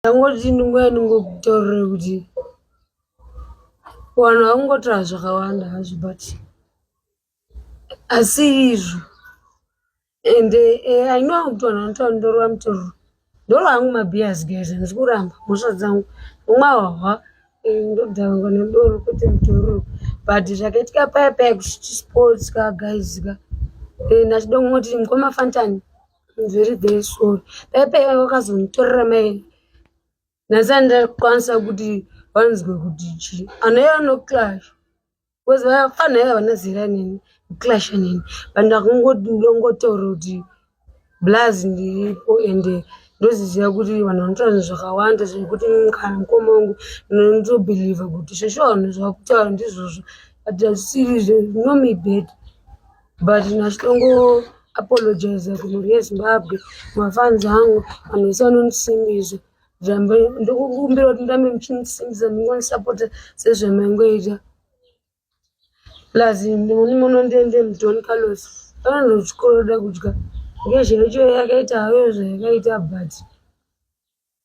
ndangoti ndinguya ndingotaurira kuti vanhu vakungotaura zvakawanda hazvo but asi izvo and eh, i know kuti vanhu vanotaura ndorova mutororo ndoro hangu mabhias guys handisi kuramba mhosva dzangu vamwe hwahwa eh, ndodhangwa nedoro kwete mutororo but zvakaitika paya paya kuchiti sports ka guys ka eh, ndachidongoti mukoma fantani Very very sorry. Pepe wakazonitorera mai. Nhasi andakwanisa kuti vanzwe kuti chi. Anouya no clash. Because vafana ava vana zera nini. Clash nini. Vanhu vakangotongotoro kuti blaz ndiripo ende ndoziziva kuti vanhu vanotaura zvinhu zvakawanda zvekuti kana mukoma wangu ndinotobhilivha kuti zveshuwa vanhu zvavakutaura ndizvozvo but hazvisiri zve no me bad but nachitongo apologize kumhuri yezimbabwe mafans angu vanhu vese vanondisimbisa zvambe ndikukumbira kuti ndirambe muchindisimbisa ndingonisapota sezvamaingoita plus ndimoni munondiende mudon carlos anondo chikoro da kudya ngezveicho yakaita hayo zvayakaita but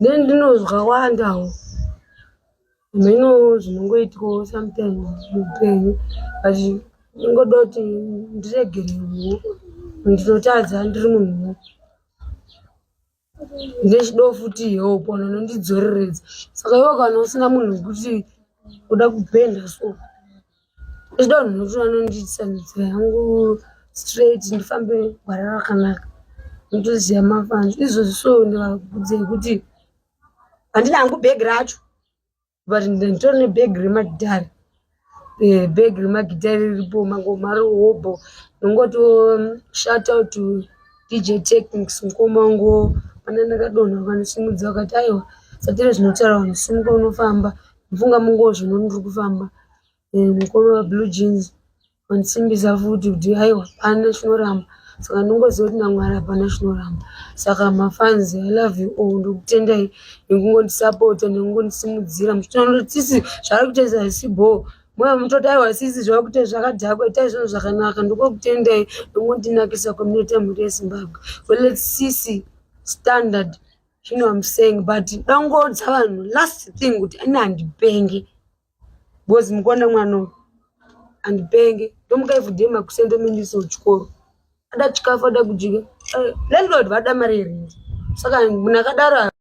then ndinozwa wandawo mheno zvinongoitwawo sometimes muupenyu but ndingoda kuti ndiregere huwo ndinotadza ndiri munhuwo ndechidawo futi help vanhu vanondidzoreredza saka iwe kana usina munhu wekuti kuda kupenda so Ndoda vanhu kuti vanondiitisa nzira yangu straight ndifambe gwara rakanaka ndotoziva mafans izvozvi so ndivakudze kuti handina hangu bhegi racho but nditori nebhegi remagitari eh, bhegi remagitari riripo mangoma rihobho ndongoto um, shout out to dj technics mukoma wangu pane ndakadonha vanosimudza vakati aiwa satire zvinotaura vanhu simuka unofamba Mfunga munguva zvino ndiri kufamba eh, mukoma wablue jeans wandisimbisa futi kuti aiwa pana chinoramba saka ndingoziva kuti namwari hapana chinoramba saka mafans i love you all ndokutendai nekungondisapota nekungondisimudzira muchitoona kuti sisi zvaari kuita zasi bhoo moyo mutoti aiwa sisi zvava kuita zvakadhakwa itai zvinhu zvakanaka ndokokutendai nekungondinakisa community yemhuri yezimbabwe so lets sisi standard You know I'm saying but ndangoudza vanhu last thing kuti ini handipenge because mukuona mwana uyu handipenge ndomuka every day makusende mindiso chikoro ada chikafu ada kudya eh, landlord vada mari here saka munhu akadaro